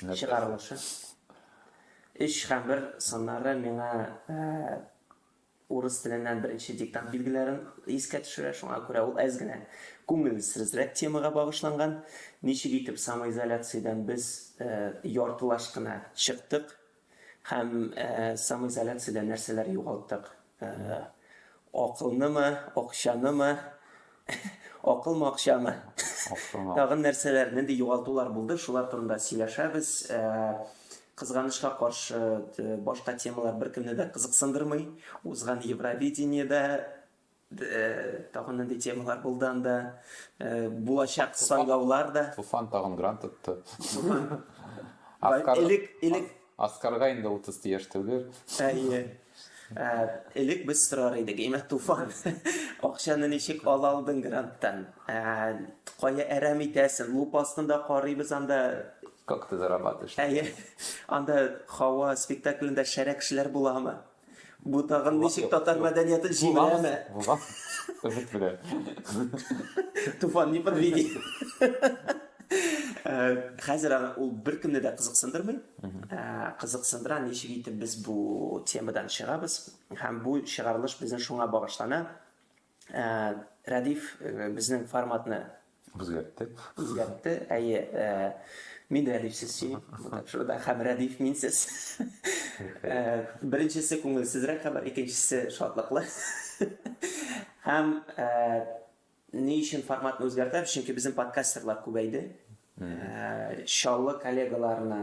чыгарылышы. Өч һәм бер саннары миңа урыс теленнән беренче диктант билгеләрен искә төшерә, шуңа күрә ул әз генә күңелсезрәк темага багышланган. Ничек итеп самоизоляциядән без яртылаш кына чыктык? Һәм самоизоляциядә нәрсәләр югалттык? Акылнымы, акчанымы? Акылмы, акчамы? Тагын нәрсәләр, нинди югалтулар булды? Шулар турында сөйләшәбез. Кызганычка каршы, башка темалар беркемне дә кызыксындырмый. Узган Евровидениедә Тагын нинди темалар булды анда? Булачак сайлаулар да. Туфан тагын грант отты. Элек, элек. Аскарга инде 30 ти яшь түгел. Әйе. Элек без сорар идек, әйме Туфан, акчаны ничек ала алдың гранттан? Кая әрәм итәсең? Лупа астында карыйбыз анда. Как ты зарабатываешь? Әйе. Анда Хава спектаклендә шәрә кешеләр буламы? Бу тагын ничек татар мәдәниятен җимерәме? Булам. Өмет белән. Туфан не подведи. Э, хәзер аны ул беркемне дә кызыксындырмый. Э, кызыксындыра ничек итеп без бу темадан чыгабыз һәм бу чыгарылыш безнең шуңа багышлана. Рәдиф безнең форматны үзгәртте. Үзгәртте. Әйе, мин Рәдиф сез син. Шурда хәм Рәдиф мин сез. Беренчесе күңелсезрәк хәбәр, икенчесе шатлыклы. Хәм ни өчен форматны үзгәртәбез? Чөнки безнең подкастерлар күбәйде. Чаллы коллегаларына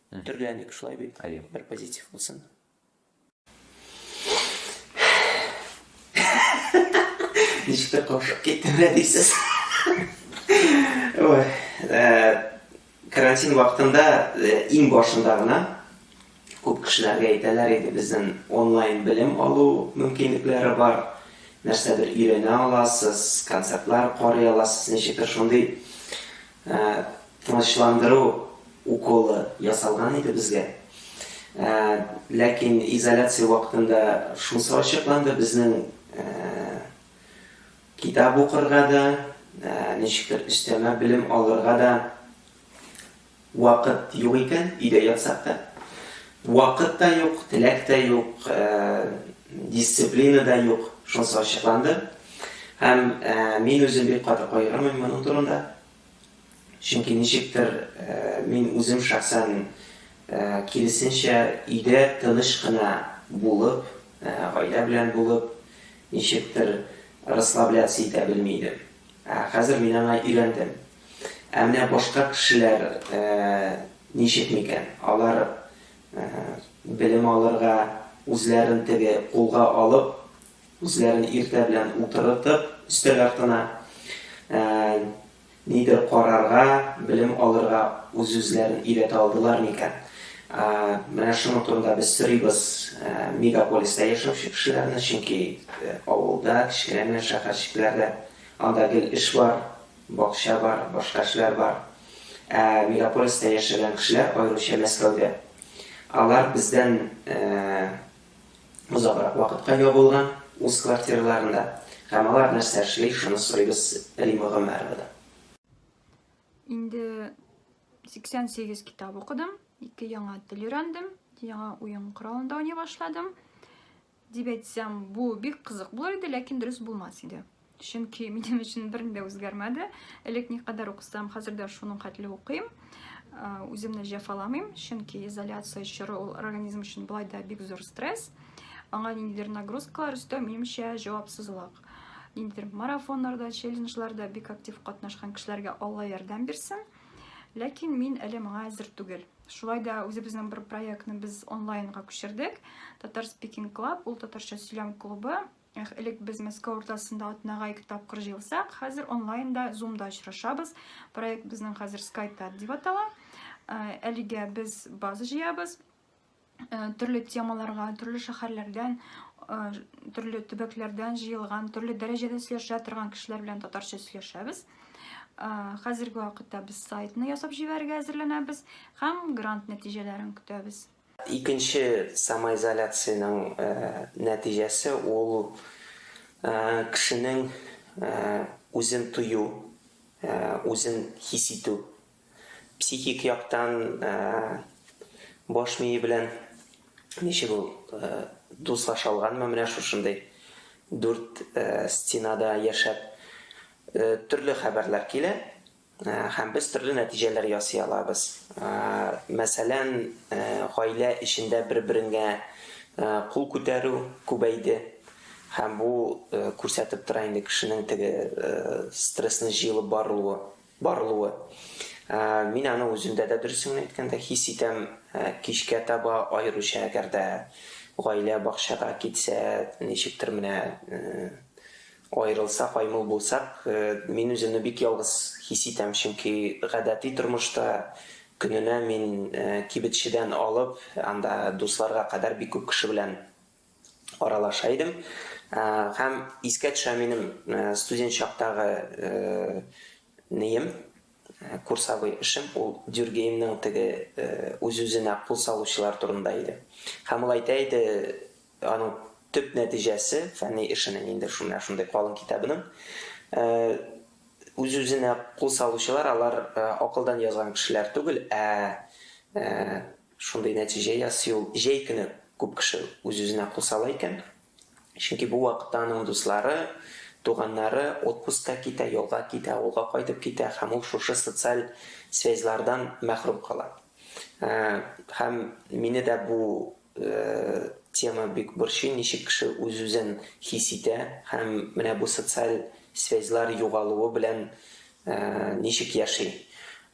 Төрләник шулай бит, әйе, бер позитив булсын. Ничек тә каушап киттем дә дисез. Ой, карантин вакытында иң башында гына күп кешеләргә әйтәләр иде, безнең онлайн белем алу мөмкинлекләре бар, нәрсәдер өйрәнә аласыз, концертлар карый аласыз, ничектер шундый Ә, тынычландыру уколы ясалган иде безгә. Ә, ләкин изоляция вакытында шунсы ачыкланды, безнең, ә, китап укырга да, ә, ничектер өстәмә белем алырга да вакыт юк икән, өйдә ятсак та. Вакыт та юк, теләк тә юк, дисциплина да юк, шунысы ачыкланды. Һәм мин үзем бик каты кайгырмыйм моның турында. Чөнки ничектер мин үзем шәхсән киресенчә өйдә тыныч кына булып, гаилә белән булып, ничектер расслабляться итә белми идем. Ә хәзер мин аңа өйрәндем. Ә менә башка кешеләр ничек микән? Алар белем алырга, үзләрен теге кулга алып, үзләрен иртә белән утырытып, өстәл артына, нидер карарга, белем алырга үз-үзләрен өйрәтә алдылар микән? Менә шуның турында без сорыйбыз мегаполиста яшәүче кешеләрне, чөнки авылда, кечкенә генә шәһәрчекләрдә анда гел эш бар, Бакча бар, башка эшләр бар. Ә мегаполиста яшәгән кешеләр, аеруча Мәскәүдә, алар бездән озаграк вакытка ябылган үз квартираларында. Һәм алар нәрсә эшли, шуны сорыйбыз Римма Гомәровадан. Инде 88 китап укыдым, ике яңа тел өйрәндем, яңа уен коралында уйный башладым. Дип әйтсәм, бу бик кызык булыр иде, ләкин дөрес булмас иде. Чөнки минем өчен бер ни дә үзгәрмәде. Элек никадәр укысам, хәзер дә шуның хәтле укыйм. Үземне җәфаламыйм, чөнки изоляция чоры ул организм өчен былай да бик зур стресс. Аңа ниндидер нагрузкалар өстәү, минемчә, җавапсызлык. Ниндидер марафоннарда, челленджларда бик актив катнашкан кешеләргә Алла ярдәм бирсен. Ләкин мин әле моңа әзер түгел. Шулай да үзебезнең бер проектны без онлайнга күчердек. Татар Speaking Club, ул татарча сөйләм клубы. Элек без Мәскәү уртасында атнага ике тапкыр җыелсак, хәзер онлайнда, зумда очрашабыз. Проект безнең хәзер скайта дип атала. Әлегә без база җыябыз. Э, төрле темаларга төрле шәһәрләрдән э, төрле төбәкләрдән җыелган төрле дәрәҗәдә сөйләшә торган кешеләр белән татарча сөйләшәбез э, хәзерге вакытта без сайтны ясап җибәрергә әзерләнәбез һәм грант нәтиҗәләрен көтәбез икенче самоизоляциянең нәтиҗәсе ул кешенең үзен тою үзен хис итү Психик яктан баш мие белән ничек ул дуслаша алганмы менә шушындый дүрт стенада яшәп? Төрле хәбәрләр килә һәм без төрле нәтиҗәләр ясый алабыз. Мәсәлән, гаилә эчендә бер-береңә кул күтәрү күбәйде һәм бу күрсәтеп тора инде кешенең теге стрессны җыелып барылуы. барылуы. Мин аны үземдә дә, дөресен генә әйткәндә, хис итәм. Кичкә таба, аеруча әгәр дә гаилә бакчага китсә, ничектер менә аерылсак, аймыл булсак, мин үземне бик ялгыз хис итәм, чөнки гадәти тормышта көненә мин кибетчедән алып, анда дусларга кадәр бик күп кеше белән аралаша идем. Һәм искә төшә минем студент чактагы неем, курсовой эшем, ул Дюргеймның теге үз-үзенә кул салучылар турында иде. Һәм ул әйтә иде, аның төп нәтиҗәсе фәнни эшенең инде шундый шундый калын китабының үз-үзенә кул салучылар, алар акылдан язган кешеләр түгел, ә Шундый нәтиҗә ясый ул, җәй көне күп кеше үз-үзенә кул сала икән, чөнки бу вакытта аның дуслары, туганнары отпускка китә, ялга китә, авылга кайтып китә һәм ул шушы социаль связьлардан мәхрүм кала. Һәм мине дә бу тема бик борчый, ничек кеше үз-үзен хис итә һәм менә бу социаль связьлар югалуы белән ничек яши.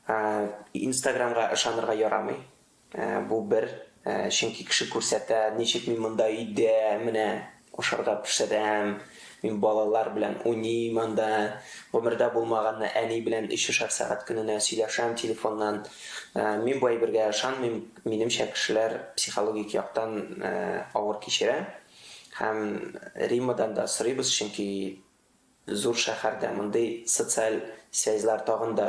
Ә инстаграмга ышанырга ярамый. Ә бу бер. Ә чөнки кеше күрсәтә, ничек мин монда өйдә менә ашарга пешерәм, мин балалар белән уйныйм анда, гомердә булмаганны әни белән өчешәр сәгать көненә сөйләшәм телефоннан. Ә мин бу әйбергә ышанмыйм, минемчә кешеләр психологик яктан авыр кичерә. Һәм Риммадан да сорыйбыз, чөнки Зур шәһәрдә мондый социаль связьлар тагын да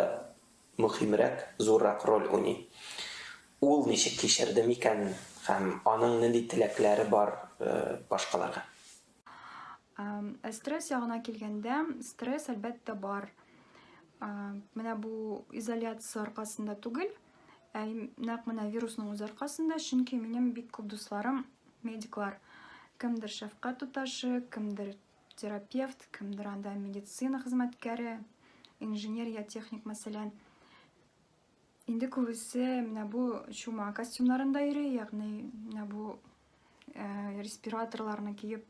мөхимрәк, зуррак роль уйный. Ул ничек кичерде микән һәм аның нинди теләкләре бар башкаларга? Ә стресс ягына килгәндә, стресс, әлбәттә, бар. Менә бу изоляция аркасында түгел, ә нәкъ менә вирусның үзе аркасында, чөнки минем бик күп дусларым медиклар. Кемдер шәфкать туташы, кемдер терапевт, кемдер анда медицина хезмәткәре, инженер я техник, мәсәлән. Инде күбесе менә бу чума костюмнарында йөри, ягъни менә бу э, респираторларны киеп,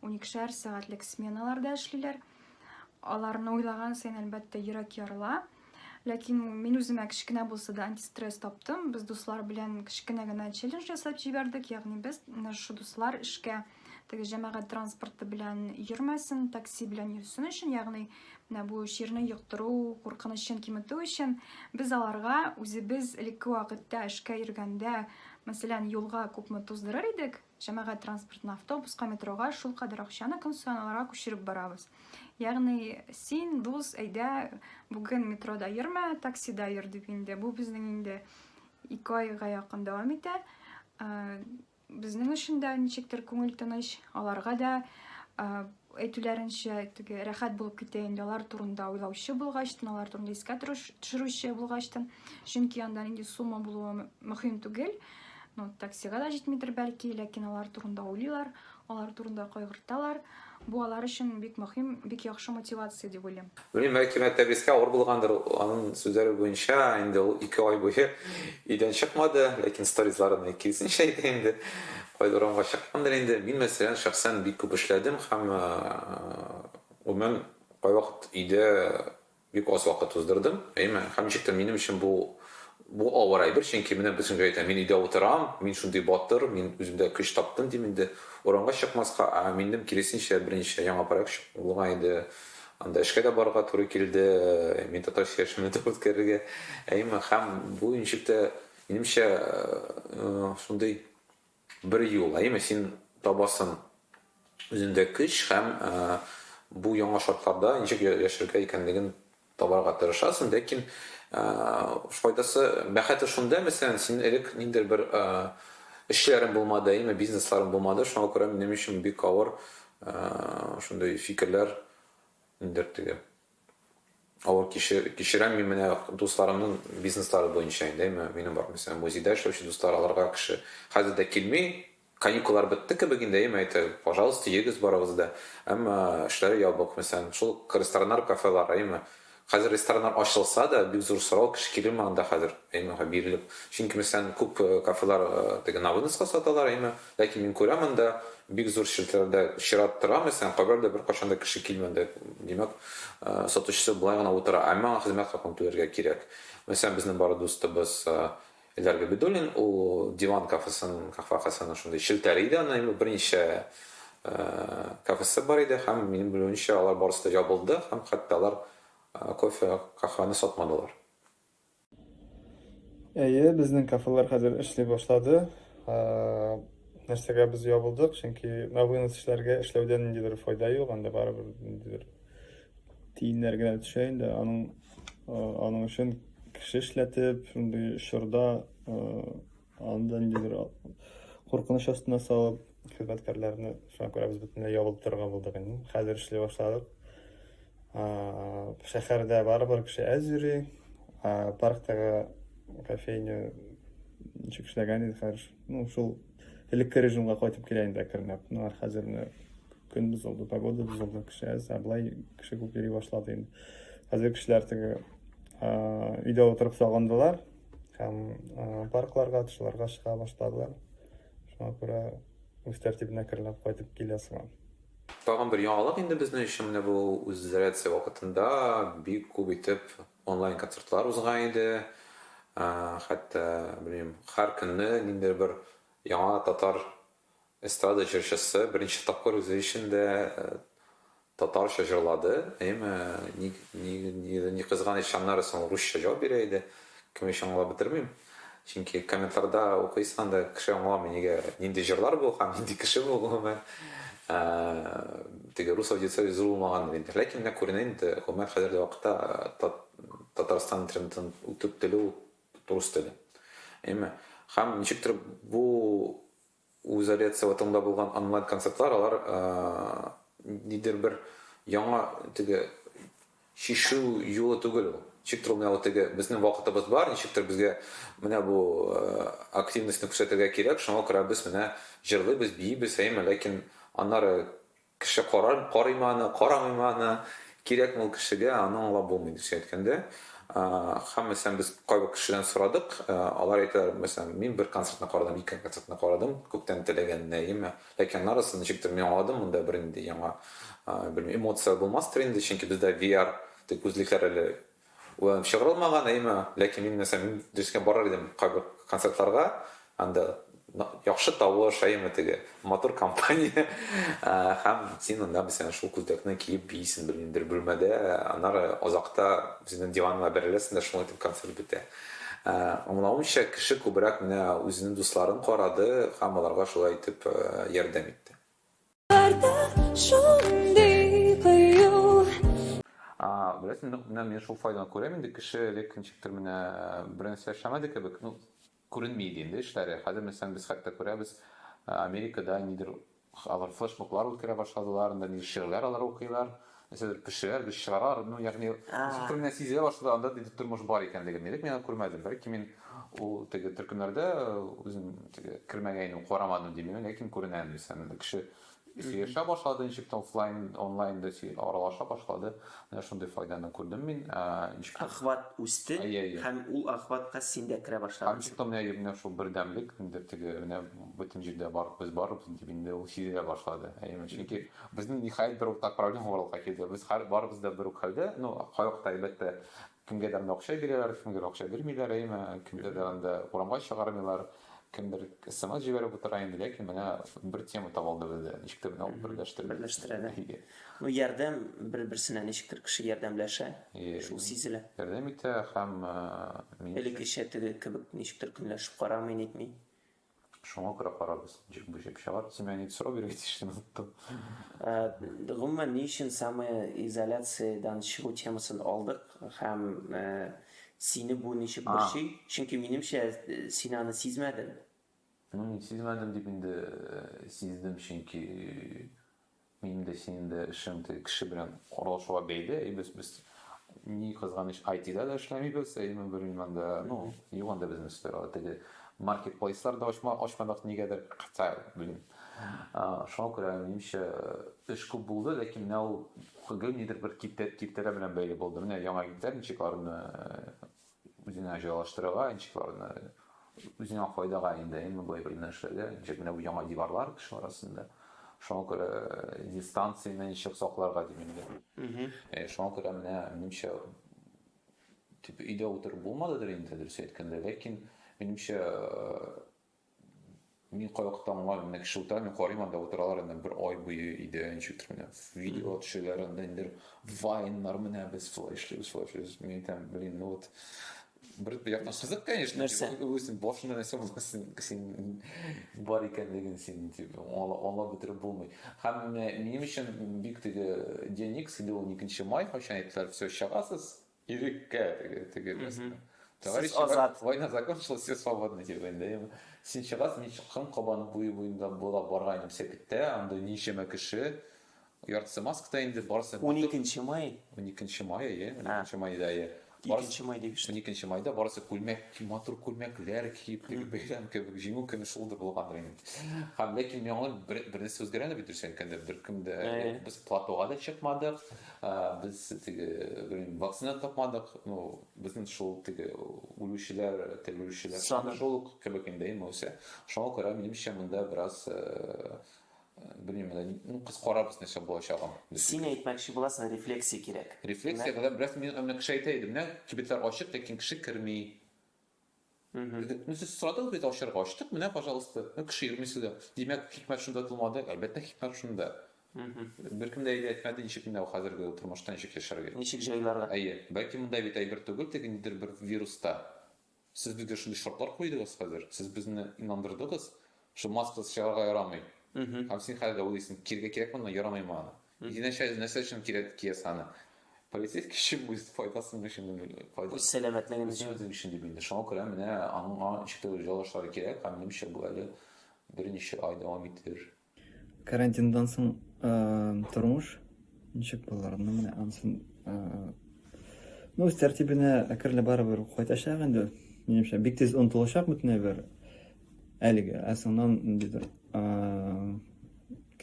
уникшәр сәгатьлек сменаларда эшлиләр. Аларны уйлаган саен, әлбәттә, йөрәк ярыла. Ләкин мин үземә кечкенә булса да антистресс таптым. Без дуслар белән кечкенә генә челлендж ясап җибәрдек, ягъни без менә шушы дуслар эшкә теге җәмәгать транспорты белән йөрмәсен, такси белән йөрсен өчен, ягъни менә бу чирне йоктыру куркынычын киметү өчен без аларга үзебез элекке вакытта эшкә йөргәндә, мәсәлән, юлга күпме туздырыр идек, җәмәгать транспортына, автобуска, метрога шул кадәр акчаны көн саен аларга күчереп барабыз. Ягъни син, дус, әйдә, бүген метрода йөрмә, таксида йөр дип инде. Бу безнең инде ике айга якын дәвам итә. Э, Безнең өчен дә ничектер күңел тыныч, аларга да әйтүләренчә, теге рәхәт булып китә инде алар турында уйлаучы булгачтын, алар турында искә төшерүче булгачтын. Чөнки анда нинди сумма булуы мөһим түгел. Ну, таксига да җитмидер бәлки, ләкин алар турында уйлыйлар, алар турында кайгырталар. Бу алар өчен бик мөһим, бик яхшы мотивация дип уйлыйм. Белмим, бәлки Мәртәбискә авыр булгандыр, анын сүзләре буенча, инде ул ике ай буе өйдән чыкмады, ләкин сторизларыннан киресенчә әйтә инде, кайда урамга чыккандыр инде. Мин мәсәлән, шәхсән бик күп эшләдем һәм гомумән кайвакыт өйдә Бик аз вакыт уздырдым. Әйме, һәм ничек тә минем өчен бу, бу авыр әйбер, чөнки менә бөтенкә әйтәм, мин өйдә утырам, мин шундый батыр, мин үземдә көч таптым, дим инде. Урамга чыкмаска, ә минем киресенчә, беренче яңа проект чык, булган иде, анда эшкә дә барырга туры килде, мин татарча яшәүне дә үткәрергә. Әйме, һәм бу ничек тә, минемчә, шундый. Бер юл, әйеме, син табасың үзендә көч һәм бу яңа шартларда ничек яшәргә икәнлеген табарга тырышасың, ләкин файдасы, бәхете шунда, мәсәлән, син элек ниндидер бер эшләрең булмады, әйеме, бизнесларың булмады, шуңа күрә минем өчен бик авыр шундый фикерләр, ниндидер теге. Авыр кичер, кичерәм мин менә дусларымның бизнеслары буенча инде, әмма минем бар, мәсәлән, музейда эшләүче дуслар, аларга кеше хәзер дә килми, каникуллар бетте кебек инде, әйеме, әйтер, пожалуйста, йөрегез барыгыз да, әмма эшләре ябык, мәсәлән, шул рестораннар, кафелар, әйеме, хәзер рестораннар ачылса да, бик зур сорау, кеше килелми анда хәзер, әйеме, бирелеп, чөнки, мәсәлән, күп кафелар теге на выноска саталар, әйеме, Ләкин мин күрәм монда бик зур челтәрләрдә чират торам исән, кайбер дә беркайчан да кеше килмәде. Димәк, сатучысы болай гына утыра, әмма аңа хезмәт хакын түләргә кирәк. Мәсәлән, безнең бары дустыбыз Эльдар Габидуллин, ул Диван кафесының, Кафа кафеның шундый челтәре иде, аны инде берничә кафесы бар иде һәм минем белүемчә алар барысы да ябылды һәм хәтта алар кофе, каһвәне сатмадылар. Әйе, безнең кафелар хәзер эшли башлады. Нәрсәгә без ябылдык? Чөнки на вынос эшләргә эшләүдә ниндидер файда юк, анда барыбер ниндидер тиеннәр генә төшә инде. Аның аның өчен кеше эшләтеп, шундый чорда Анда нидер куркыныч астына салып, хезмәткәрләрне шуңа күрә без бөтенләй ябылып торырга булдык инде. Хәзер эшли башладык. Шәһәрдә барыбер кеше әз йөри. Парктагы кофейня ничек эшләгән иде хәзер. Ну, шул элекке режимга кайтып килә инде әкренләп. Ну, хәзер менә көн бозылды, погода бозылды, кеше әз, ә былай кеше күп йөри башлады инде. Хәзер кешеләр теге өйдә утырып сагындылар. Һәм паркларга, тышларга чыга башлады. Шуңа күрә үз тәртибенә керләп кайтып килә сыман. Тагын бер яңалык инде безнең өчен менә бу үзизоляция вакытында бик күп итеп онлайн концертлар узган иде. Хәтта, белмим, һәр көнне ниндидер бер яңа татар Эстрада җырчысы беренче тапкыр үзе өчен дә татарча җырлады, әйеме? Ник, ник, ни кызганыч, аннары соң русча җавап бирә иде. Кем өчен аңлап бетермим. Чөнки комментларда укыйсың анда, кеше аңламый, нигә, нинди җырлар бу һәм нинди кеше бу, гомумән. Теге рус аудиториясе зур булмагандыр инде. Ләкин менә күренә инде, гомумән, хәзерге вакытта Татарстан интернетын үтүп, теле Рус теле. Әйме. Хәм ничектер бу үзалиация ватыңда булган онлайн концертлар алар нидер бер яңа теге шишу юлы түгел ул. Ничектер менә вот теге безнең вакытыбыз бар, ничектер безгә менә бу активностьны күрсәтергә кирәк, шуңа күрә без менә җырлыйбыз, биибез, әйме, ләкин аннары Кеше карар, карыймы аны, карамыймы аны, кирәкме ул кешегә, аны аңлап булмый, дөресен әйткәндә. Һәм, мәсәлән, без кайбер кешеләрдән сорадык, алар әйтәләр, мәсәлән, мин бер концертны карадым, ике концертны карадым, күптән теләгән Нәима, ләкин аннарысын ничектер мин аңладым, монда бер нинди яңа, белмим, эмоция булмастыр инде, чөнки бездә VR дип үзлекләр әле Уйланып чыгарылмаган, әйеме? Ләкин мин нәрсә, мин дөрескә барыр идем кайбер концертларга, анда яхшы тавыш, әйеме, теге матур компания, һәм син анда мәсәлән шул күлдәкне киеп биисең белмим бер бүлмәдә, аннары озакта үзеңнең диваныңа бәреләсең дә шуңа итеп концерт бетә. Аңлавымча, кеше күбрәк менә үзенең дусларын карады һәм аларга шулай итеп ярдәм итте. Беләсең, менә мин шул файданы күрәм инде, кеше элек ничектер менә бер нәрсә эшләмәде кебек, ну, күренми иде инде эшләре. Хәзер мәсәлән без хәтта күрәбез, Америкада нидер алар флешмоблар үткәрә башладылар, анда нидер шигырьләр алар укыйлар. Нәрсәдер пешерәр, без чыгарар, ну, ягъни, ничектер менә сизелә башлады, анда диде тормыш бар икәнлеген. Элек мин аны күрмәдем, бәлки мин ул теге төркемнәрдә үзем теге кермәгәйнем, карамадым димени, ләкин күренә инде исән. Кеше сөйләшә башлады, ничек офлайн, онлайн да аралаша башлады. Менә шундый файданы күрдем мин. Ничек охват үсте һәм ул охватка син дә керә башладың. Ничек тә менә шул бердәмлек, нидер теге, менә бөтен җирдә бар, без барбыз дип инде ул сизелә башлады. Әйеме? Чөнки Безнең, ниһаять, бер уртак проблема барлыкка килде. Без хәр, барыбыз да бер үк хәлдә. Ну, кайвакытта, әлбәттә, кемгәдер анда акча бирәләр, кемгәдер акча бирмиләр, әйеме, кемдер дә анда урамга чыгармыйлар, кемдер смс җибәреп утыра инде, ләкин менә бер тема таба алды бездә, ничектер менә ул берләштерде. Берләштерә, да. Әйе. Ну, ярдәм бер-берсенә ничектер кеше ярдәмләшә, Әйе. шул сизелә. Ярдәм итә һәм, э, минемчә. Элеккечә теге кебек ничектер көнләшеп карамый, нитми. Шуңа күрә карагыз, ничек бу җеп чыгар. Син миңа нидер сорау бирергә тиеш, мин оныттым. Гомумән, ни өчен самоизоляциядән чыгу темасын алдык һәм сине бу ничек борчый? Чөнки, минемчә, син аны сизмәдең. Ну, мин сизмәдем дип инде сиздем, чөнки Минем дә синең дә эшең теге кеше белән аралашуга бәйле. И без без ни кызганыч IT-да да эшләмибез, әйеме бер иманда. Ну, юк анда безнең сферада теге маркетплейслар да ачма ачмадык нигәдер, хотя блин. Шуңа күрә минемчә эш күп булды, ләкин менә ул гел нидер бер киртә киртәләр белән бәйле булды. Менә яңа интернчикларны Үзеңә җайлаштырырга, ничек аларны үзеңә файдага инде, әйеме, былай бер генә эшләргә, ничек менә бу яңа диварлар кешеләр арасында. Шуңа күрә э, дистанцияне ничек сакларга дим инде. Э, шуңа күрә менә минемчә тип өйдә утырып булмадыдыр инде дөрес әйткәндә, ләкин минемчә э, Мин кайвакытта аңлар менә кеше утыра, мин карыйм анда утыралар инде бер ай буе өйдә ничек утырып менә видео төшәләр анда инде вайннар менә без шулай эшлибез шулай эшлибез мин әйтәм блин ну вот бер яктан кызык конечно нәрсә үзең башыңда нәрсә булгасын син бар икәнлеген син дип аңлап бетереп булмый һәм минем өчен бик теге день икс инде ул икенче май кайчан әйттеләр все чыгасыз Иреккә теге теге рәсеме. Товарищ Азат. Война закончилась, все свободны дип инде. Син чыгасың, мин чыккан Кабан буе буенда буйлап барган идем Сәкеттә, анда ничәмә кеше, яртысы маскада инде, барысы. Уникенче май? Уникенче май, әйе, уникенче майда, әйе. Икенче май дип ишеттем. Уникенче майда барысы күлмәк, матур күлмәкләр киеп, теге бәйрәм кебек, Җиңү көне шулдыр булгандыр инде. Һәм ләкин миңа бер нәрсә үзгәрә дә бит, дөресен әйткәндә, беркем дә, без платога да чыкмадык, Ә без теге, белмим, вакцина тапмадык, ну, безнең шул теге үлүчеләр, терелүчеләр саны шул ук кебек инде, яисә. Шуңа күрә, минемчә, монда бераз, белмим, ну, кыз карабыз нәрсә булачагын. Син әйтмәкче буласың, рефлексия кирәк. Рефлексия, бераз мин аны кеше әйтә иде, менә кибетлар ачык, ләкин кеше керми. Мхм. Ну, сез сорадыгыз бит ачарга, ачтык, менә, пожалуйста. Ну, кеше йөрми суда. Димәк, хикмәт шунда тумады, әлбәттә, хикмәт шунда. Мхм. Беркем дә әйтә әйтмәде, ничек менә бу хәзерге тормышта ничек яшәргә. Ничек җайларга. Әйе, бәлки монда бит әйбер түгел, теге нидер бер вирус та. Сез безгә шундый шартлар куйдыгыз хәзер, сез безне инандырдыгыз, Шул маскасыз чыгарга ярамый. Һәм син хәзер дә уйлыйсың, киергә кирәкме аны, ярамыймы аны? Динәшә нәрсә өчен кирәк киясең аны? Полицейский өчен, үз файдасын өчен, файда. Үз сәламәтлеген өчен. Үзең өчен дип инде. Шуңа күрә менә аның аңа ничектер җайлашырга кирәк, һәм минемчә бу әле берничә ай дәвам итер. Карантиндан соң тормыш ничек булыр? Ну менә ансын, ну үз тәртибенә әкренләп барыбер кайтачак инде, минемчә, бик тиз онытылачак бөтен әйбер. Әлеге, ә соңнан ниндидер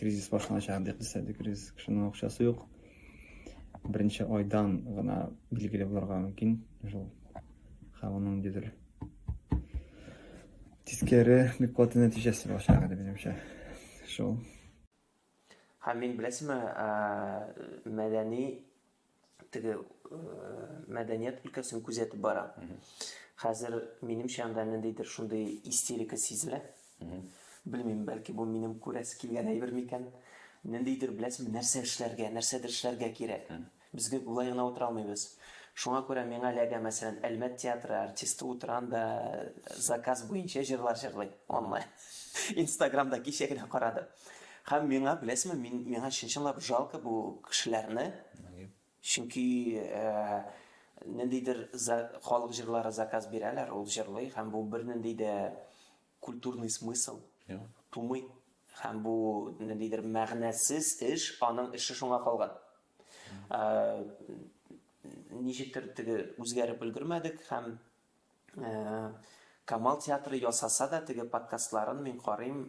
кризис башланачак дип дисәде кризис кешенең акчасы юк беренче айдан гына билгеле булырга мөмкин шул һәм аның ниндидер тискәре бик каты нәтиҗәсе булачак әле минемчә шул һәм мин беләсеңме мәдәни теге мәдәният өлкәсен күзәтеп бара. Хәзер минемчә анда ниндидер шундый истерика сизелә. Белмим, бәлки бу минем күрәсе килгән әйбер микән? Ниндидер беләсең, нәрсә эшләргә, нәрсәдер эшләргә кирәк. Безгә болай гына утыра алмыйбыз. Шуңа күрә миңа эләгә, мәсәлән, Әлмәт театры артисты утыра анда заказ буенча җырлар җырлый онлайн. Инстаграмда кичә генә карадым. Һәм миңа, беләсезме, мин, миңа чын-чынлап жалко бу кешеләрне. Нәги. Чөнки ниндидер халык җырлары заказ бирәләр, ул җырлый, һәм бу бернинди дә культурный смысл тумый. Һәм бу ниндидер мәгънәсез эш, аның эше шуңа калган. Ничектер теге үзгәреп өлгермәдек һәм Камал театры ясаса да теге подкастларын мин карыйм,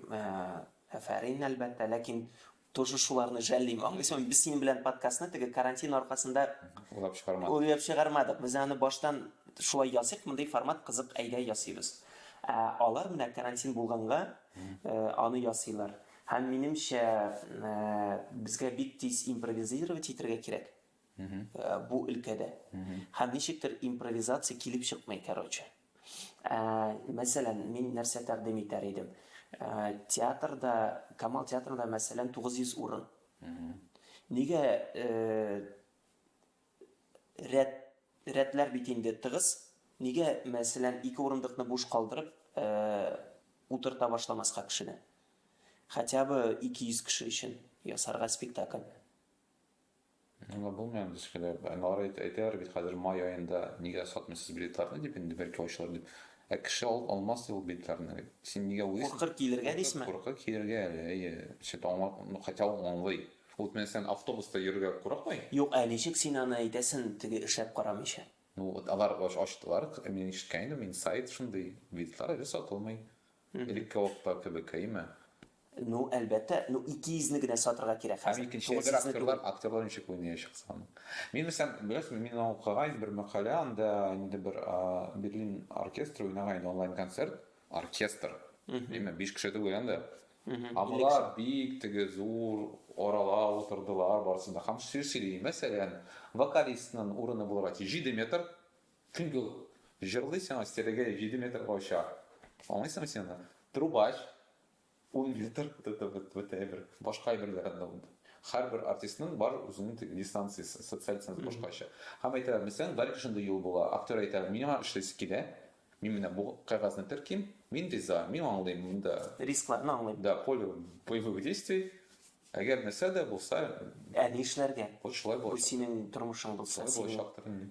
әфәрин әлбәттә, ләкин тоже шуларны жәллим. Аңлыйсың, без синең белән подкастны теге карантин аркасында уйлап чыгармадык. Уйлап чыгармадык. Без аны баштан шулай ясыйк, мондый формат кызык, әйдә ясыйбыз. Ә алар менә карантин булганга аны ясыйлар. Һәм минемчә, безгә бик тиз импровизировать итәргә кирәк. бу өлкәдә. Һәм ничектер импровизация килеп чыкмый, короче. Мәсәлән, мин нәрсә тәкъдим итәр идем? Театрда, Камал театрында, мәсәлән, 900 урын. Нигә рәт, рәтләр бит инде тыгыз, нигә, мәсәлән, ике урындыкны буш калдырып, утырта башламаска кешене? Хотя бы 200 кеше өчен ясарга спектакль. Аңлап булмый аны төшкәләп. Алар әйтәләр бит хәзер май аенда нигә сатмыйсыз билетларны дип инде, бәлки ачылыр дип. Ә кеше алып алмас ди ул билетларны бит. Син нигә уйлыйсың? Куркыр килергә дисме? Куркыр килергә әле, әйе. Чит аңлап, ну хотя ул аңлый. Ул Тменстән автобуста йөрергә курыкмый? Юк ә ничек син аны әйтәсен теге эшләп карамыйча? Ну вот алар ачтылар, мин ишеткән идем, мин сайт шундый, билетлар әле сатылмый. Элекке вакытта кебеккәеме? Ну, әлбәттә. Ну, ике йөзне генә сатырга кирәк хәзер. Һәм икенче әйбер, актерлар, актерлар ничек уйнаячак соң аны? Мин белсәм, беләсезме, мин аны укыгайным, бер мәкалә, анда инде бер Берлин оркестры уйнаган иде онлайн концерт. Оркестр. Әмма биш кеше түгел инде. Алар бик теге зур арала утырдылар барысы да. Һәм сүз сөйли. Мәсәлән, вокалистның урыны булырга тиеш җиде метр. Чөнки ул җырлый сиңа стилеге җиде метрга оча. Аңлыйсыңмы син аны? Трубач, ун метр, вот это вот, вот әйбер. Башка әйберләр анда ул. Һәрбер артистның бар үзенең теге дистанциясе, социаль дистанция башкача. Һәм әйтәләр, мәсәлән, дальше шундый юл була, актер әйтә, миңа эшлисе килә, мин менә бу кәгазьне терким, мин риза, мин аңлыйм монда. Рискларны аңлыйм. Да, поле боевых действий, әгәр нәрсә дә булса. Ә ни эшләргә? Вот шулай булачак. Бу синең тормышың булса, синең. Шулай булачактыр инде.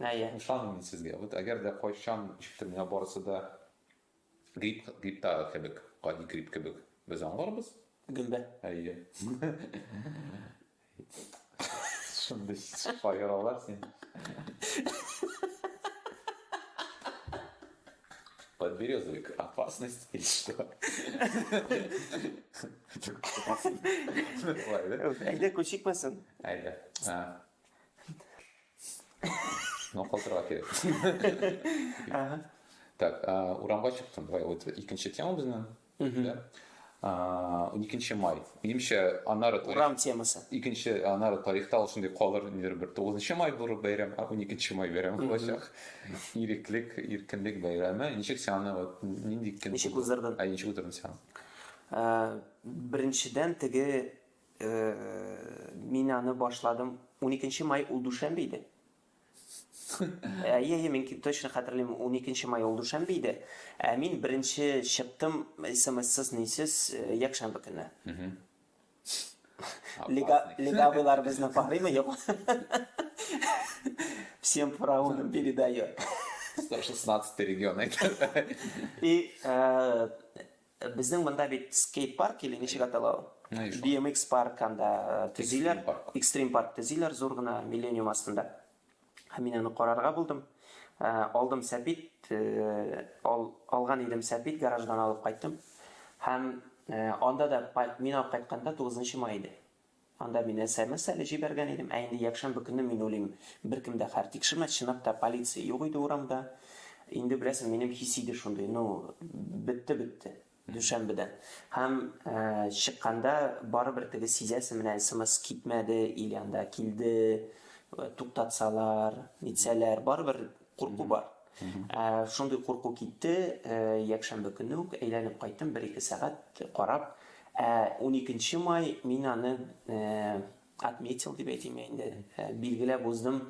Әйе. Ышаныйм мин сезгә. Вот әгәр дә кайчан ничектер миңа барысы да грипп, грипптагы кебек, гади грипп кебек, без аңларбыз. Гөмбә. Әйе. Шундый шаяралар син. Подберезовик, опасность или что? Әйдә, күшекмәсен. Әйдә. Ну, калтырау керек. Так, урамга чыктым. Давай, вот икенче тема безнең. Икенче май. Минемчә, анары тарих... Урам темасы. Икенче анары тарихта ул шундый калыр, нидер бер 9 май булыр бәйрәм, а 12 май бәйрәм булачак. Иреклек, иркенлек бәйрәме. Ничек син аны вот нинди көн? Ничек уздырдың? Ә ничек уздырдың син? Беренчедән теге Мин аны башладым. Уникенче май ул дүшәмбе иде. Әйе, мин точно хәтерлим, уникенче май ул дүшәмбе иде. Ә мин беренче чыктым смссыз, нисез, якшәмбе көне. Легавыйлар безне карыймы, юк? Всем фараонам передаю. 116 регион. И Э, безнең монда бит скейт парк или ничек атала ул bmx парк анда э, төзиләр экстрим парк төзиләр зур гына миллениум астында мин аны карарга булдым э, алдым сәпит алган идем сәпит гараждан алып кайттым һәм анда да мин алып кайтканда 9 май иде Анда мин смс әле җибәргән идем, ә инде якшәмбе көне мин уйлыйм, беркем дә хәл тикшермәс, чынлап та полиция юк иде урамда. Инде беләсең, минем хисе иде шундый, ну, бетте, бетте, дүшәмбедән. Һәм чыкканда барыбер теге сизәсең, менә смс китмәде или анда килде, туктатсалар, нитсәләр, барыбер Курку бар. Шундый курку китте, якшәмбе көне үк әйләнеп кайттым, бер-ике сәгать карап. Ә уникенче май мин аны отметил дип әйтим инде, билгеләп уздым.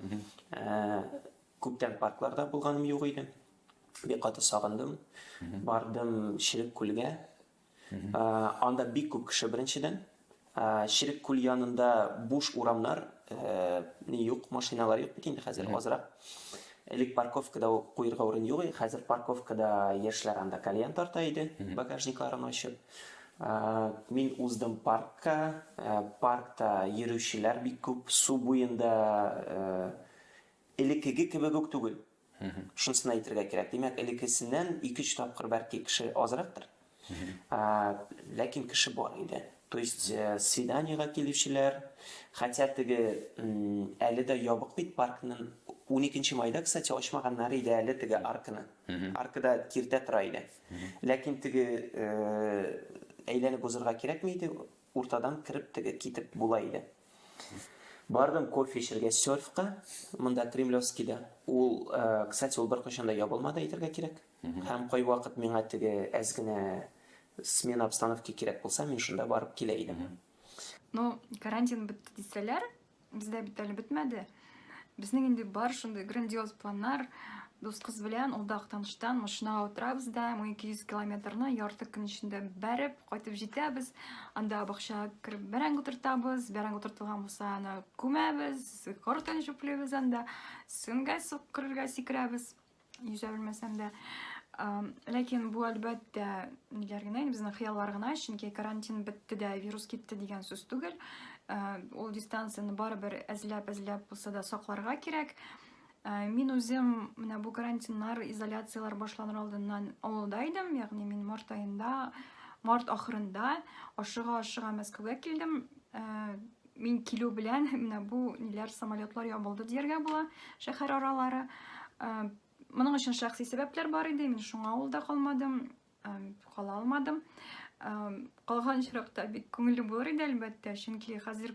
Күптән паркларда булганым юк иде. Бик каты сагындым. Бардым Черек күлгә, Анда бик күп кеше беренчедән. Черек күл янында буш урамнар, ни юк, машиналар юк бит инде хәзер азрак. Элек парковкада куерга урын юк иде, хәзер парковкада яшьләр анда кальян тарта иде, багажникларын ачып. Мин уздым паркка, паркта йөрүчеләр бик күп, су буенда элеккеге кебек үк түгел. Шунысын әйтергә кирәк. Димәк, элеккесеннән ике-өч тапкыр бәлки кеше азрактыр. Ләкин кеше бар иде. То есть э, свиданиега килүчеләр, хотя теге әле дә ябык бит паркның 12 майда, кстати, ачмаганнар иде әле теге арканы. Аркада киртә тора иде. Ләкин теге э, әйләнеп узырга кирәкми иде, Уртадан кереп теге китеп була иде. Бардым кофе эчергә серфка, монда Кремлевскийда. Ул, кстати, ул беркайчан да ябылмады, әйтергә кирәк. Һәм кайвакыт миңа теге әз генә смена обстановки кирәк булса, мин шунда барып килә идем. Ну, карантин бетте дисәләр, Бездә бит әле бетмәде. Безнең инде бар шундый грандиоз планнар. Дус кыз белән ул да Актаныштан машинага утырабыз да, 1200 километрны ярты көн эчендә бәреп, кайтып җитәбез. Анда бакчага кереп бәрәңге утыртабыз, бәрәңге утыртылган булса, аны күмәбез, кортын җүплибез анда, сүнгә сук керергә сикерәбез. Йөзә белмәсәм дә. Ләкин бу әлбәттә ниләр генә, безнең хыяллар гына, чөнки карантин бетте дә, вирус китте дигән сүз түгел. Ул дистанцияне барыбер әзләп-әзләп булса да сакларга кирәк. Мин үзем менә бу карантиннар, изоляцияләр башланыр алдыннан авылда идем, ягъни мин март аенда, март ахырында ашыга-ашыга Мәскәүгә килдем. Мин килү белән менә бу ниләр самолетлар ябылды дияргә була шәһәр аралары. Э, моның өчен шәхси сәбәпләр бар иде, мин шуңа авылда калмадым, э, кала алмадым. Э, калган очракта бик күңелле булыр иде, әлбәттә, чөнки хәзер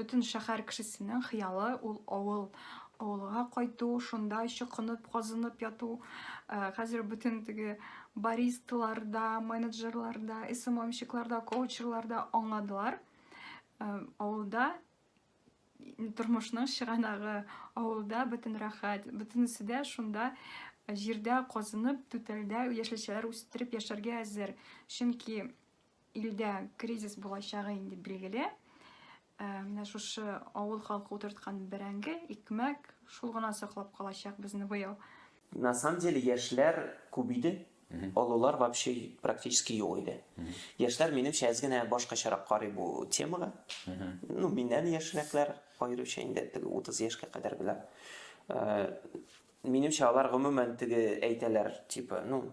бөтен шәһәр кешесенең хыялы ул авыл, авылга кайту, шунда чокынып, казынып яту. Хәзер бөтен теге баристаларда, менеджерларда, СММщикларда, коучерларда аңладылар. Авылда тормышның чыганагы, авылда бөтен рәхәт, бөтенесе дә шунда җирдә казынып, түтәлдә яшелчәләр үстереп яшәргә әзер. Чөнки илдә кризис булачагы инде билгеле. Ә, менә шушы авыл халкы утырткан бәрәңге, икмәк шул гына саклап калачак безне быел. На самом деле яшьләр күп иде, олылар вообще практически юк иде. Яшьләр минемчә әз генә башкачарак карый бу темага. Ну, миннән яшьрәкләр аеруча инде теге 30 яшькә кадәргеләр. Э, минемчә алар гомумән теге әйтәләр, типа, ну,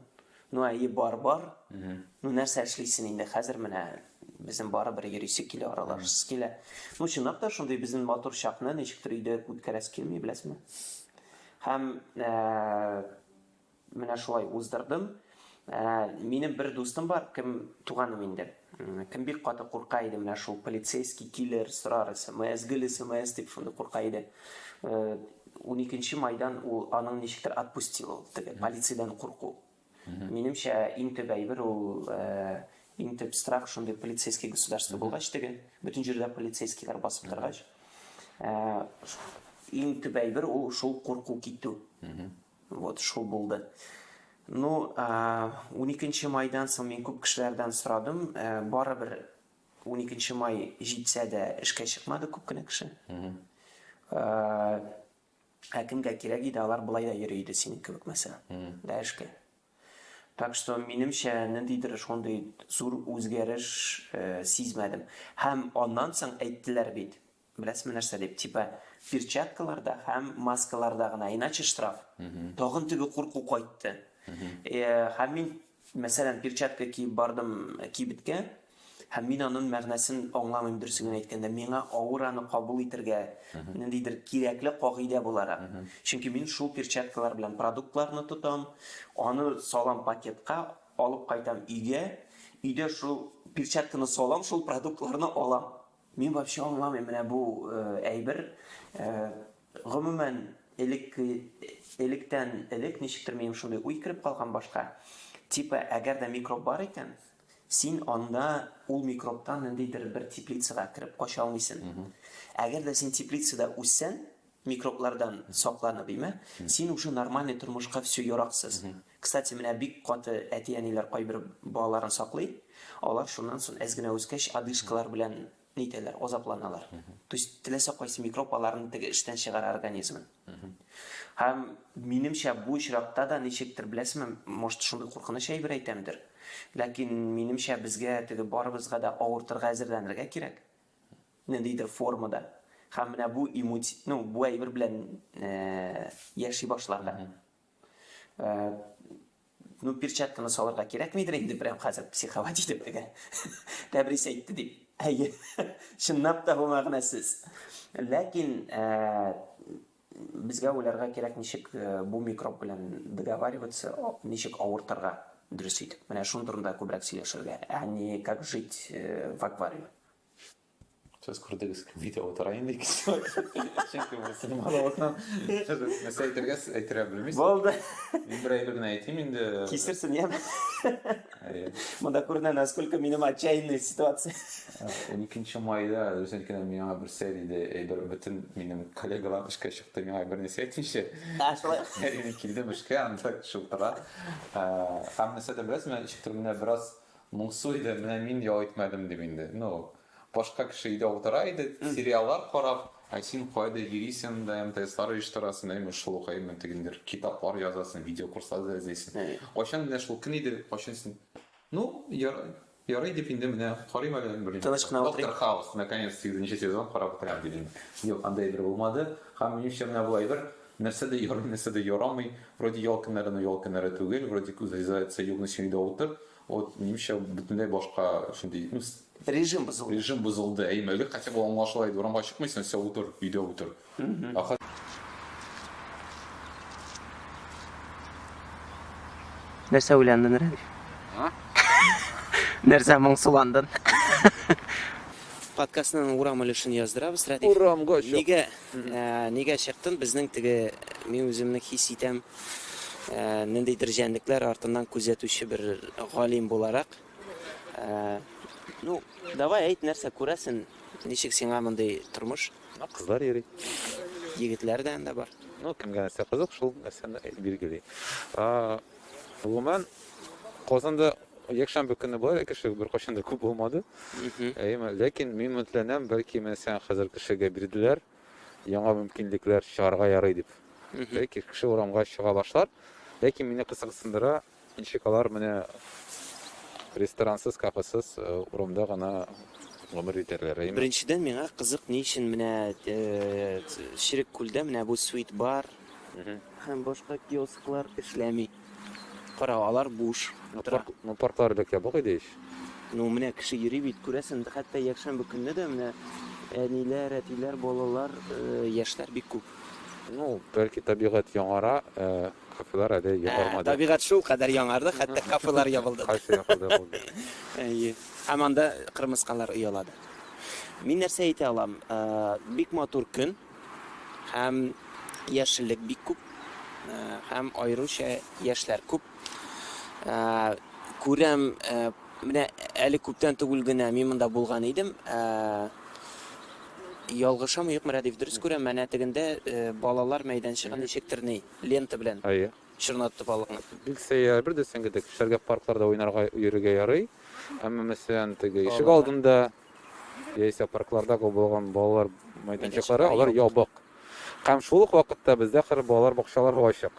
ну әйе бар бар ну нәрсә эшлисен инде хәзер менә безнең барыбер йөрисе килә аралашасы килә ну чынлап та шундый безнең матур чакны ничектер өйдә үткәрәсе килми беләсеңме Һәм менә шулай уздырдым. Минем бер дустым бар, кем туганым инде. Кем бик каты курка иде менә шул полицейский киллер сорар смс, гел смс дип шундый курка иде. 12 майдан ул аның ничектер отпустил ул теге полициядән курку. Минемчә, иң төп әйбер ул, иң төп страх шундый полицейский государство булгач теге, бөтен җирдә полицейскийлар басып торгач, иң төп әйбер ул шул курку китү. Вот шул булды. Ну, 12 майдан соң мин күп кешеләрдән сорадым, барыбер 12 май җитсә дә эшкә чыкмады күп кенә кеше. Ә кемгә кирәк иде, алар болай да йөри иде синең кебек мәсә ләр эшкә. Так что, минемчә, ниндидер шундый зур үзгәреш сизмәдем. Һәм аннан соң әйттеләр бит, беләсезме нәрсә дип, типа, перчаткаларда һәм маскаларда гына, иначе штраф. Тагын теге курку кайтты. Һәм мин Мәсәлән, перчатка киеп бардым кибеткә, һәм мин анын мәгънәсен аңламыйм, дөресен генә әйткәндә. Миңа авыр аны кабул итергә, ниндидер кирәкле кагыйдә буларак. Чөнки мин шул перчаткалар белән продуктларны тотам, аны салам пакетка, алып кайтам өйгә, өйдә шул перчатканы салам, шул продуктларны алам. Мин вообще аңламыйм менә бу әйбер. Гомумән, элек электән элек ничектер минем шундый уй кереп калган башка. Типа, әгәр дә микроб бар икән, син анда ул микробтан ниндидер бер теплицага кереп кача алмыйсың. Әгәр дә син теплицада үссәң, Микроблардан сакланып име, син уже нормальный тормышка всё яраксыз. Кстати, менә бик каты әти-әниләр кайбер балаларын саклый, алар шуннан сон әз генә үскәч одышкалар белән нитәләр, азапланалар. То есть теләсә кайсы микроб аларны теге эштән чыгара организмын. Һәм минемчә бу очракта да ничектер беләсеме, может шундый куркыныч әйбер әйтәмдер, ләкин минемчә безгә теге барыбызга да авыртырга әзерләнергә кирәк. Ниндидер формада. Һәм менә бу имути, ну, бу әйбер белән яши башларга. Ну, перчатканы салырга кирәкмидер инде прям хәзер психовать итеп теге. Тәбрис әйтте дип. Әйе. Чынлап та бу мәгънәсез. Ләкин Безгә уйларга кирәк, ничек бу микроб белән договариваться, ничек авыртырга дөрес итеп. Менә шуның турында күбрәк сөйләшергә, а не как жить в аквариуме. Сез күрдегез, видео утыра инде ике сәгать. Чөнки бу синең балавыздан нәрсә әйтергә әйтергә белмисез. Булды. Мин бер әйбер генә әйтим инде. Кисерсен, яме. Монда күренә, насколько минем отчаянный ситуация. 12 майда үзенкенә миңа бер сәер иде, әйбер бөтен минем коллегалар эшкә чыкты, миңа бер нәрсә әйтмичә. Сәер иде килдем эшкә, анда шултыра. Һәм нәрсә дә беләсезме, ничек төрле бераз моңсу иде, менә мин ял итмәдем дип инде. Ну, башка кеше өйдә утыра иде, сериаллар карап, ә син кайда йөрисең дә, МТСлар оештырасың, әйме шул ук, әйме тегендер китаплар язасың, видеокурслар да эзлисең. Кайчан менә шул көн иде, кайчан син, ну, Ярый дип инде менә карыйм әле берничә. Тыныч кына утырыйк. Доктор Хаус, наконец, сигезенче сезон карап бетерәм дидем. Юк, андый әйбер булмады. Һәм минемчә менә бу әйбер, нәрсә дә ярый, нәрсә дә ярамый. Вроде ял көннәре, но ял көннәре түгел. Вроде күз врезается югны чөйдә утыр. Вот, минемчә, бөтенләй башка шундый, ну. Режим бозылды. Режим бозылды. Әйе, элек хотя бы аңлашыла иде, урамга чыкмыйсың, всё, утыр, өйдә утыр. Ахыр Нәрсә уйландың, Рәдиф? А? Нәрсә моңсуландың? Подкастның урам өлешен яздырабыз, Рәдиф. Урамга чык. Нигә, ә, нигә чыктын? Безнең теге мин үземне хис итәм, ә, ниндидер җәнлекләр артыннан күзәтүче бер галим буларак. Ә, ну, давай әйт, нәрсә күрәсен? Ничек сиңа мондый тормыш? Менә кызлар йөри. Егетләр дә анда бар. Ну, кемгә нәрсә кызык, шул нәрсәне билгели. Гомумән, Казанда якшәмбе көне болай кеше беркайчан да күп булмады. Әйеме, ләкин мин өметләнәм, бәлки мәсәлән хәзер кешегә бирделәр яңа мөмкинлекләр чыгарга ярый дип. Бәлки кеше урамга чыга башлар. Ләкин мине кызыксындыра, Ничек алар менә ресторансыз, кафесыз урамда гына гомер итәрләр, әйеме? Беренчедән, миңа кызык, ни өчен менә Черек күлдә менә бу Sweet Bar һәм башка киосклар эшләми? Кара, алар буш. Ну, парклар элек ябык иде ич. Ну, менә кеше йөри бит, күрәсең, хәтта якшәмбе көнне дә менә әниләр, әтиләр, балалар, яшьләр бик күп. Ну, бәлки табигать яңара, Кафелар әле ябармады. Табигать шул кадәр яңарды, хәтта кафелар ябылды. Кайсы ябылды ул? Әйе. Һәм анда кырмыскалар оялады. Мин нәрсә әйтә алам? Бик матур көн. Һәм яшеллек бик күп. Һәм аеруча яшьләр күп. Күрәм, Менә әле күптән түгел генә мин монда булган идем. Ялгышам юк мөрә дип дөрес күрәм, менә тегендә балалар мәйданчыгы ничектер ни, лента белән. Әйе. Чорнатты балыкны. Бик сәер, бер дә сеңгедек. Кешеләргә паркларда уйнарга, йөрергә ярый. Әмма мәсәлән, теге ишек алдында яисә парклардагы булган балалар мәйданчыклары, алар ябык. Һәм шул ук вакытта бездә хр балалар бакчалары һо ачык.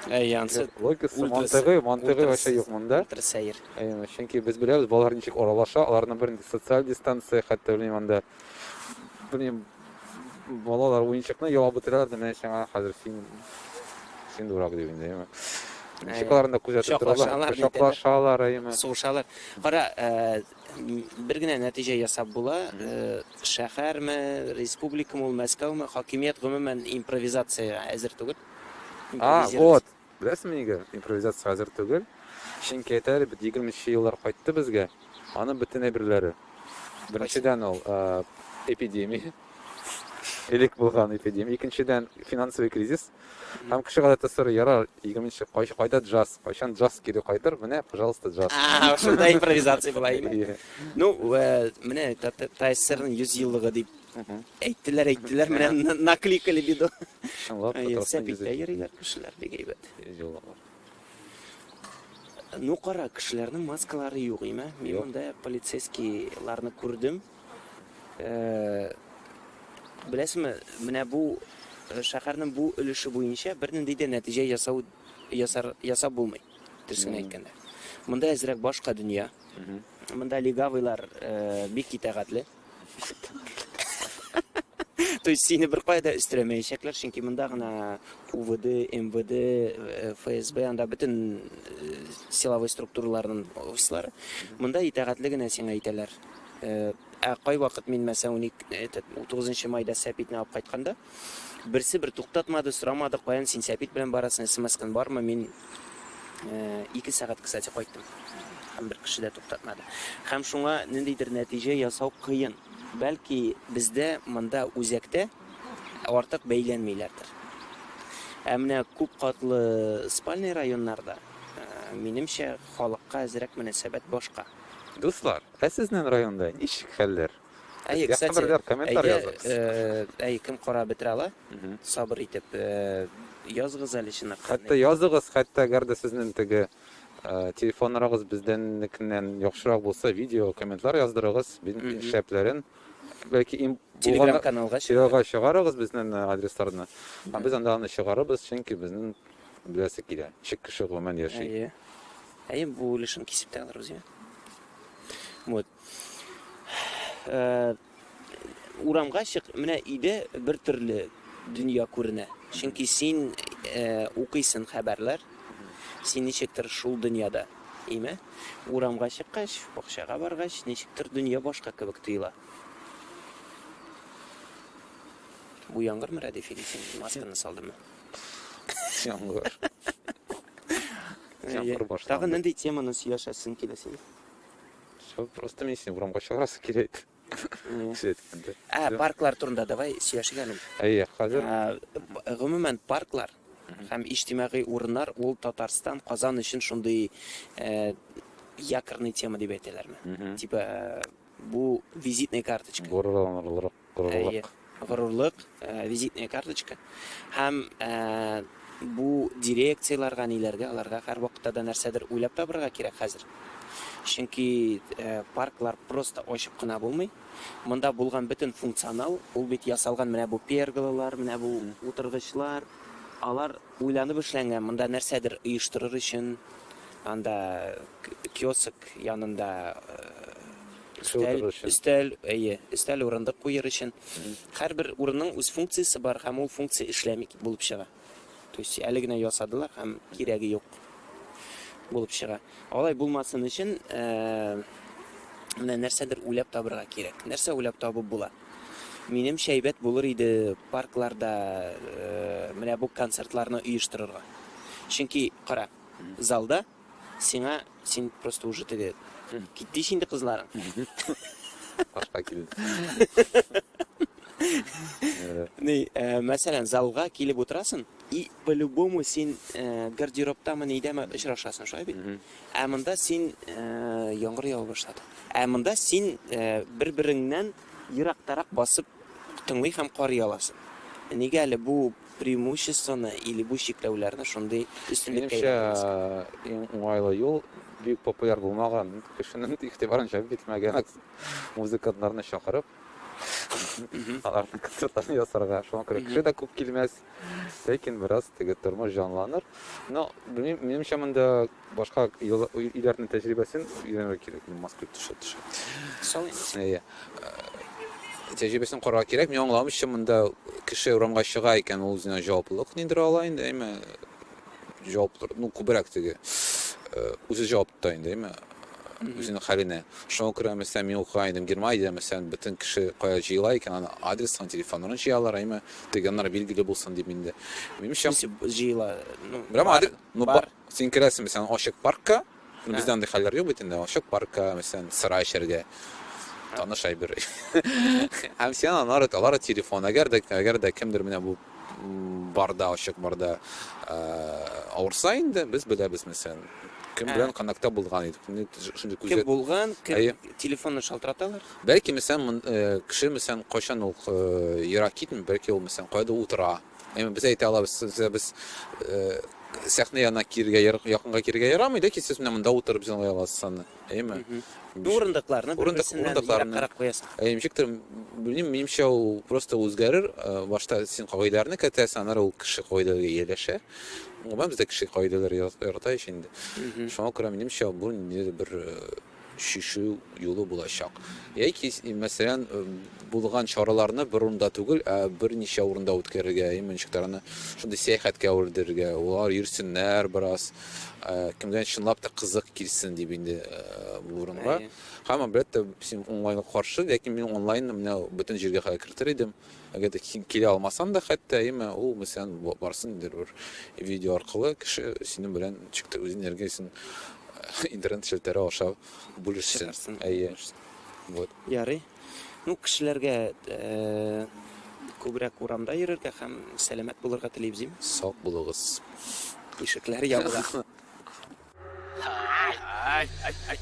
Әй, янсы, Логикасы, ультра сэ- мантыйгы, мантыйгы ультра вообще сэ- юк монда. ультра сәер. Әй, ну, чөнки без беләбез, балалар ничек аралаша, аларны бер нинди социаль дистанция, хәтта белмим анда, белмим, балалар уенчыкны ялап бетерәләр дә, менә сиңа хәзер син, син дурак дип инде, әйме. Ничек Әй, аларны күзәтеп торалар, кочаклашалар, нитәләр. кочаклашалар, әйме. Сугышалар. Кара, э, Бер генә нәтиҗә ясап була, шәһәрме, республикамы ул, Мәскәүме, хакимият гомумән импровизациягә әзер түгел. А, вот, беләсеңме нигә импровизациягә әзер түгел? Чөнки әйтә әле бит, егерме нче еллар кайтты безгә, аның бөтен әйберләре. Беренчедән ул, эпидемия. Элек булган эпидемия, икенчедән финансовый кризис. Һәм кеше гадәттә сорый, ярар, 20 нче кайчы кайда джаз, кайчан джаз кире кайтыр, менә, пожалуйста, джаз. А, шунда импровизация була иде. Ну, менә ТССРның 100 еллыгы дип әйттеләр, әйттеләр, менә накликали бит. Чынлап, сәпиттә йөриләр кешеләр бик әйбәт. Ну, кара, кешеләрнең маскалары юк име? Мин монда полицейскийларны күрдем. Беләсезме, менә бу шәһәрнең бу өлеше буенча бернинди дә нәтиҗә ясау ясар ясап булмый. Төсен әйткәндә. Монда әзрәк башка дөнья. Монда легавыйлар бик итәгатле. То есть сине бер кайда өстерәмәячәкләр, чөнки монда гына УВД, МВД, э, ФСБ, анда бөтен э, силовой структураларның офислары. Монда итәгатьле генә сиңа әйтәләр. Ә кайвакыт мин, мәсәлән, уник, этот, утугызынчы майда сәпитне алып кайтканда, берсе бер туктатмады, сорамады, каян син сәпит белән барасың, смскан бармы, мин ике сәгать, кстати, кайттым. Һәм бер кеше дә туктатмады. Һәм шуңа ниндидер нәтиҗә ясау кыен. Бәлки бездә монда үзәктә артык бәйләнмиләрдер. Ә менә күп катлы спальный районнарда, минемчә, халыкка әзрәк мөнәсәбәт башка. Дуслар, ә сезнен районда ничек хәлләр? Әйе, Безгә кстати, хәбәрдар, комментар әйдә, языгыз. э, әй, кем карап бетерә ала, Мгм. сабыр итеп, э, языгыз әле чынлап. Хәтта языгыз, хәтта әгәр дә сезнен теге э, телефон норагыз бездәннекеннән яхшырак булса, видео, комментлар яздырыгыз, бин- Мгм. шәпләрен. Бәлки им булганда Телеграм-каналга чыгар. телега чыгарыгыз безнен э, адресларны. Һәм без анда аны чыгарыбыз, чөнки безнен Беләсе килә. Ничек кеше гомумән яши? Әйе. Әйе, бу өлешен кисеп тә алырбыз, я? Вот. Э, урамга чык, менә иде бер төрле дөнья күренә. Чөнки син э, укыйсың хәбәрләр, син ничектер шул дөньяда, име? Урамга чыккач, бакчага баргач, ничектер дөнья башка кебек тоела. Бу яңгырмы, Рәдиф, или син масканы салдымы? Яңгыр. Яңгыр Әйе. башланды. Тагын нинди теманы сөйләшәсең килә сиңа? Всё, просто мин сине урамга чыгарасы килә иде. Әйе. Кеше әйткәндә. Ә, Всё. парклар турында давай сөйләшик әле. Әйе, хәзер Ә, б- Гомумән парклар Мгм. һәм иҗтимагый урыннар ул Татарстан, Казан өчен шундый э, якорный тема дип әйтәләрме? Мгм. Типа э, бу визитная карточка. Горурланырлык Горурлык. Горурлык, визитная карточка. Һәм бу дирекцияләргә, ниләргә, аларга һәрвакытта да нәрсәдер уйлап табырга кирәк хәзер. Чөнки парклар просто ачып кына булмый. Монда булган бөтен функционал, ул бит ясалган менә бу перголалар, менә бу утыргычлар. Алар уйланып эшләнгән, монда нәрсәдер оештырыр өчен, анда киоск янында Өстәл, өстәл, әйе, өстәл урындык куер өчен. Һәрбер урынның үз функциясе бар һәм ул функция эшләми булып чыга. То есть әле генә ясадылар һәм кирәге юк булып чыга. Алай булмасын өчен э, менә нәрсәдер уйлап табырга кирәк. Нәрсә уйлап табып була? Минем шәйбәт булыр иде паркларда э, менә бу концертларны оештырырга. Чөнки кара, залда Сиңа, син просто уже теге. Китте ич инде кызларың. Башка килде. Ни, э, мәсәлән, залга килеп утырасың, и по-любому син э, гардеробтамы нидәме очрашасың, шулай бит? Ә монда син э, яңгыр ява башлады. Ә монда син э, бер-береңнән ерактарак басып тыңлый һәм карый аласың. Нигә әле бу Преимуществоны или бу чикләүләрне шундый өстенлеккә Минемчә, әйләндерәбез. иң уңайлы юл, бик популяр булмаган, кешенең игътибарын җәлеп итмәгән музыкантларны чакырып, аларның концертларын ясарга. Шуңа күрә кеше дә күп килмәс, ләкин бераз теге тормыш җанланыр. Но, белмим, минемчә монда. Башка илләрнең тәҗрибәсен өйрәнергә кирәк, мин Москвич төшә төшә. Соң, әйе. Тәҗрибәсен карарга кирәк. Мин аңламыйча монда кеше урамга чыга икән, ул үзенә җаваплылык ниндер ала инде, әйме? Җаваплы, ну, күбрәк теге. Үзе җавап тота инде, әйме? Үзенең хәленә. Шуңа күрә, мәсәлән, мин укыган идем Германиядә, мәсәлән, бөтен кеше кая җыела икән, аны адресын, телефонын җыялар, әйме? Теге аннары билгеле булсын дип инде. Минемчә, җыела. Ну, бар. Ну, бар. Син керәсең, мәсәлән, ачык паркка, бездә андый хәлләр юк бит инде, ачык паркка, мәсәлән, сыра эчәргә, таныш әйбер. Һәм син алар, алар телефон, әгәр дә, әгәр дә кемдер менә бу барда, ачык барда авырса инде, без беләбез, мәсәлән, кем белән контактта булган идек. Шундый күзәт. Кем булган, кем телефонны шалтыраталар? Бәлки, мәсәлән, кеше, мәсәлән, кайчан ул ерак китми, бәлки ул, мәсәлән, кайда утыра, Әмма без әйтә алабыз сезгә без сәхнә янына киргә якынга киргә ярамый да ки сез менә монда утырып җыңлый аласыз аны әйеме урындыкларны урындыкларны карап куясыз әйе ничектер белмим минемчә ул просто үзгәрер башта син кагыйдәләрне кертәсең аннары ул кеше кагыйдәләргә ияләшә гомумән бездә кеше кагыйдәләр ярата ич инде шуңа күрә минемчә бу ниндидер бер чишү юлы булачак. Яки, мәсәлән, булган чараларны бер урында түгел, ә берничә урында үткәрергә, иммунчыкларны шундый сәяхәткә әвердерергә, улар йөрсеннәр бераз, кемгә чынлап та кызык килсен дип инде бу урынга. Һәм, әлбәттә, син онлайнга каршы, ләкин мин онлайн менә бөтен җиргә хәзер кертер идем. Әгәр дә син килә алмасаң да хәтта, әйеме, ул мәсәлән барсын инде бер видео аркылы кеше синең белән ничек тә үз энергиясен интернет челтәре аша бүлешсен. Әйе. Вот. Ярый. Ну, кешеләргә э, күбрәк урамда йөрергә һәм сәламәт булырга телибез, дим. Сак булыгыз. Ишекләр ябыла. Ай, ай, ай, ай.